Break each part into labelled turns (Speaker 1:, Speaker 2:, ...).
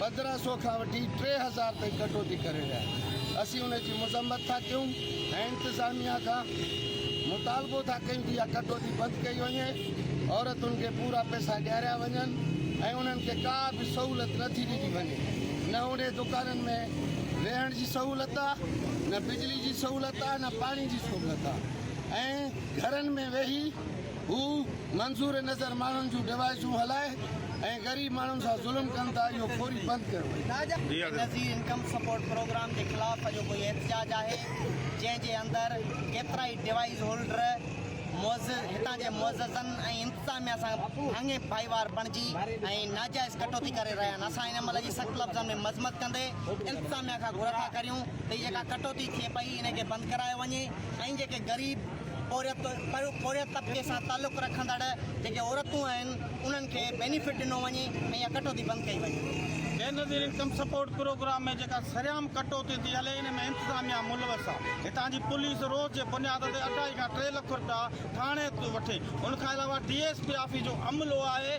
Speaker 1: پندرهن سئو کان وٺي ٽي هزار تائين ڪٽوتي ڪري رهيا آهن اسين ان جي مذمت ٿا ڪيون ۽ انتظاميا کان مطالبو ٿا ڪيون ته اها ڪٽوتي بند ڪئي وڃي عورتن کي پورا پئسا ڏياريا وڃن ۽ انهن کي ڪا به سهولت نه ٿي ڏني وڃي نه اهڙي دڪانن ۾ رهڻ جي سهولت آهي نه بجلي جي سهولت آهي نه پاڻي جي سهولت آهي ۽ گهرن ۾ ويهي هو منظور نظر ماڻهن جون ڊوائيسون هلائي ۽ غريب ماڻهن سان ظلم ڪن ٿا اهو فوري بند ڪيو وڃي. Benazir
Speaker 2: income support programme جي خلاف اڄوڪو هي احتجاج آهي جنهن جي اندر ڪيترائي ڊوائيس هولڊر معزز هتان جي معززن ۽ انتظاميا سان اڱي ڀائيوار بڻجي ۽ ناجائز ڪٽوتي ڪري رهيا آهن اسان هن عمل جي سخت لفظن ۾ مذمت ڪندي انتظاميا کان گهر ٿا ڪريون ته هي جيڪا ڪٽوتي ٿئي پئي ان کي بند ڪرايو وڃي ۽ جيڪي غريب پورهيت طبقي سان تعلق رکندڙ جيڪي عورتون آهن انهن کي بينيفٽ ڏنو وڃي ۽ اها ڪٽوتي بند ڪئي وڃي. Benazir income
Speaker 3: support programme ۾ جيڪا سرعام ڪٽوتي ٿي هلي ان ۾ انتظاميا ملوث آهي هتان جي پوليس روز جي بنياد تي اڍائي کان ٽي لک رپيا ٿاڻي ٿي وٺي ان کان علاوه ڊي ايس پي آفيس جو عملو آهي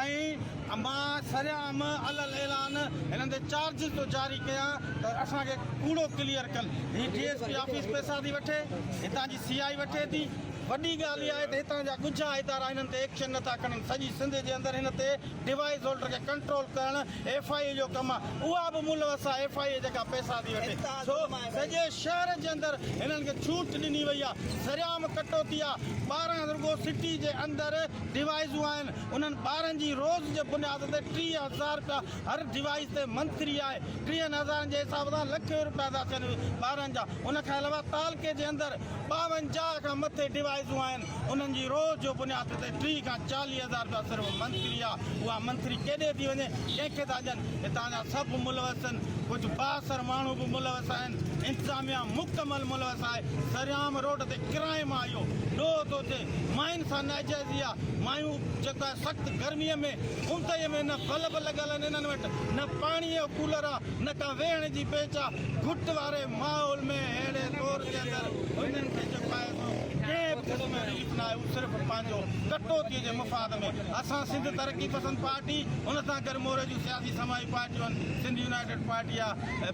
Speaker 3: ۽ مان سرعام علي الاعلان هنن تي چارجز ٿو جاري ڪيان ته اسان کي ڪوڙو ڪليئر ڪن هي ڊي ايس پي آفيس پئسا ٿي وٺي هتان جي سياهي وٺي ٿي، وڏي ڳالهه اها آهي ته هتان جا ڳجها ادارا هنن تي ايڪشن نٿا کڻن، سڄي سنڌ جي اندر هن تي ڊوائيس هولڊر کي ڪنٽرول ڪرڻ ايف آء اي جو ڪم آهي، اها به ملوث آهي ايف آء اي جيڪا پئسا ٿي وٺي، سو سڄي شهر جي اندر هنن کي ڇوٽ ڏني وئي آهي، سرعام ڪٽوتي آهي، ٻارهن رڳو سٽي جي اندر ڊوائيسون آهن، انهن ٻارهن جي روز جي بنياد تي ٽيهه هزار رپيا هر ڊوائيس تي منٿلي آهي ٽيهن هزارن جي حساب سان لکين روپيا ٿا ٿين ٻارن جا ان کان علاوه تعلقي جي اندر ٻاونجاهه کان مٿي ڊوائيسون آهن انهن جي روز جو بنياد تي ٽيهه کان چاليهه هزار روپيا صرف منٿلي آهي اها منٿلي ڪيڏي ٿي وڃي ڪنهن کي ٿا ڏين هتان جا سڀ ملوث آهن ڪجهه بااثر ماڻهو به ملوث آهن انتظاميا مڪمل ملوث آهي سرعام روڊ تي ڪرائم آهي اهو ڏوهه ٿو ٿئي ماين سان ناجائزي آهي مايون جيڪو آهي سخت گرمي ۾ کنتيء ۾ نه بلب لڳل آهن، انهن وٽ نه پاڻيء جو ڪولر آ، نه ڪا ويهڻ جي بينچ آ. گهٽ واري ماحول ۾ اهڙي دور جي اندر هنن کي جيڪو آهي سو ڪنهن به قسم جو رليف ناهي. هو صرف پنهنجو ڪٽوتيء جي مفاد ۾. اسان سنڌ ترقي پسند پارٽي، ان سان گڏ موري جون سياسي سماجي پارٽيون آهن، سنڌ يونائيٽيڊ پارٽي آ،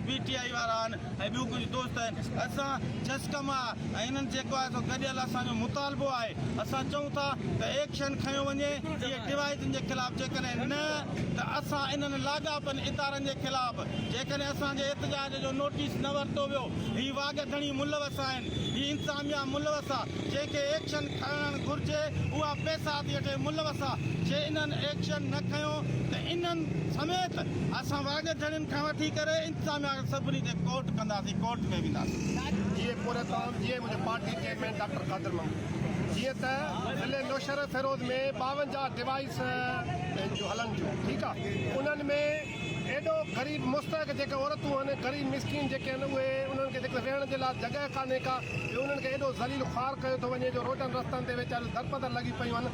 Speaker 3: پي ٽي آء وارا آهن. ۽ ٻيون ڪجهه دوست آهن اسان چس ڪم آهي ۽ انهن جيڪو آهي سو گڏيل اسان جو مطالبو آهي اسان چئون ٿا ته ايڪشن کنيو وڃي اهي ڊوائيسن جي خلاف جيڪڏهن نه ته اسان انهن لاڳاپن ادارن جي خلاف جيڪڏهن اسان جي احتجاج جو نوٽيس نه ورتو ويو هي واڳ ڌڻي ملوث آهن هي انتظاميا ملوث آهي جنهن کي ايڪشن کڻڻ گهرجي اها پيسا ٿي اٺي ملوث آهي جي انهن ايڪشن نه کنيو ته انهن سميت اسان واڳ ڌڻين کان وٺي ڪري. اسان آخر سڀني کي ڪورٽ ڪنداسين ڪورٽ ۾ وينداسين. جيئي پورهيت
Speaker 1: صاحب جيئي منهنجو party chairman doctor Qadir Mahmood جيئي ته ضلعي نوشهره فيروز ۾ ٻاونجاهه ڊوائيس جو هلن ٿيون ٺيڪ آ انهن ۾ ايڏو غريب مستحق جيڪي عورتون هن غريب مسڪين جيڪي هن اهي انهن کي جيڪي ويهڻ جي لاء جڳهه ڪانهي ڪا ٻيو انهن کي ايڏو ذليل خوار ڪيو ٿو وڃي جو روڊن رستن تي ويچاريون درپدر لڳي پيون هن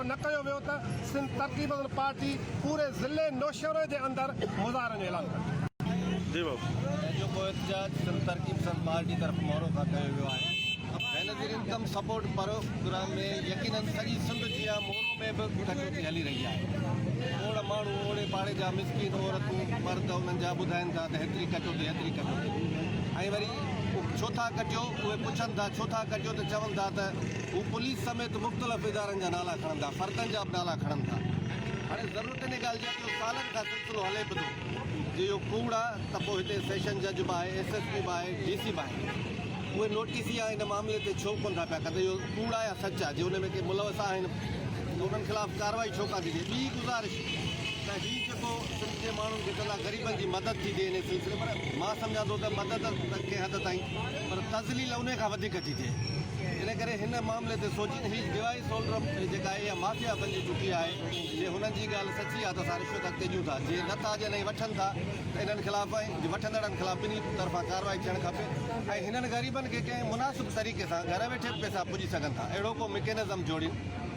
Speaker 1: نه ڪيو ويو ته سنڌ ترقي پسند پارٽي پوري ضلعي نوشهرو جي اندر مظاهرن جو اعلان ڪندي.
Speaker 4: تنهنجو ڪو
Speaker 5: احتجاج سنڌ ترقي پسند پارٽي طرف
Speaker 4: مورو
Speaker 5: کان ڪيو ويو آهي. بينظير انڪم سپورٽ پروگرام ۾ يقيناً سڄي سنڌ جيان مورو ۾ به ڪٽوتي هلي رهي آهي. اوڙ ماڻهو، اوڙي پاڙي جا مسڪين عورتون، مرد انهن جا ٻڌائين ٿا ته هيتري ڪٽوتي، هيتري ڪٽوتي ۽ وري ڇو ٿا ڪٽيو اهي پڇن ٿا، ڇو ٿا ڪٽيو ته چون ٿا ته. هو پوليس سميت مختلف ادارن جا نالا کڻن ٿا، فردن جا به نالا کڻن ٿا. هاڻي ضرورت ان ڳالهه جي آهي جو سالن کان سلسلو هلي به ٿو. جي اهو ڪوڙ آهي ته پوء هتي سيشن جج به آهي، ايس ايس پي به آهي، ڊي سي به آهي. اهي نوٽيس يا ان معاملي تي ڇو ڪونه ٿا پيا ڪن ته اهو ڪوڙ آهي يا سچ آهي. جي ان ۾ ڪي ملوث آهن ته انهن خلاف ڪارروائي ڇو ڪانه ٿي ٿئي. ٻي گذارش ته هي جيڪو سنڌ جي ماڻهن کي ڪندا غريبن جي مدد ٿي ٿئي انهي سلسلي ۾ پر مان سمجهان ٿو ته مدد ته ڪنهن حد تائين پر تذليل انهي کان وڌيڪ ٿي ٿئي ان ڪري هن معاملي تي سوچين هي ڊوائي سولرم جيڪا آهي اها مافيا بنجي چڪي آهي جي هنن جي ڳالهه سچي آهي ته اسان رشوت اڳتي ڏيون ٿا جي نه ٿا ڏين ۽ وٺن ٿا ته انهن خلاف ۽ وٺندڙن خلاف ٻنهي طرفان ڪارروائي ٿيڻ کپي ۽ هنن غريبن کي ڪنهن مناسب طريقي سان گهر ويٺي به پئسا پڄي سگهن ٿا اهڙو ڪو مڪينزم جوڙين.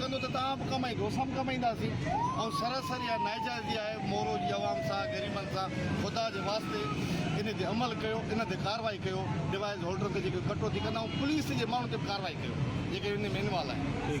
Speaker 6: ڪندو ته توهان به ڪمائيندو اسان به ڪمائينداسين ۽ سراسر اها ناجائزي آهي مورو جي عوام سان غريبن سان خدا جي واسطي ان تي عمل ڪيو ان تي ڪارروائي ڪيو ڊوائيز هولڊرن تي جيڪي ڪٽوتي ڪندا ۽ پوليس جي ماڻهن تي به ڪارروائي ڪيو جيڪي ان ۾ انوالو آهن.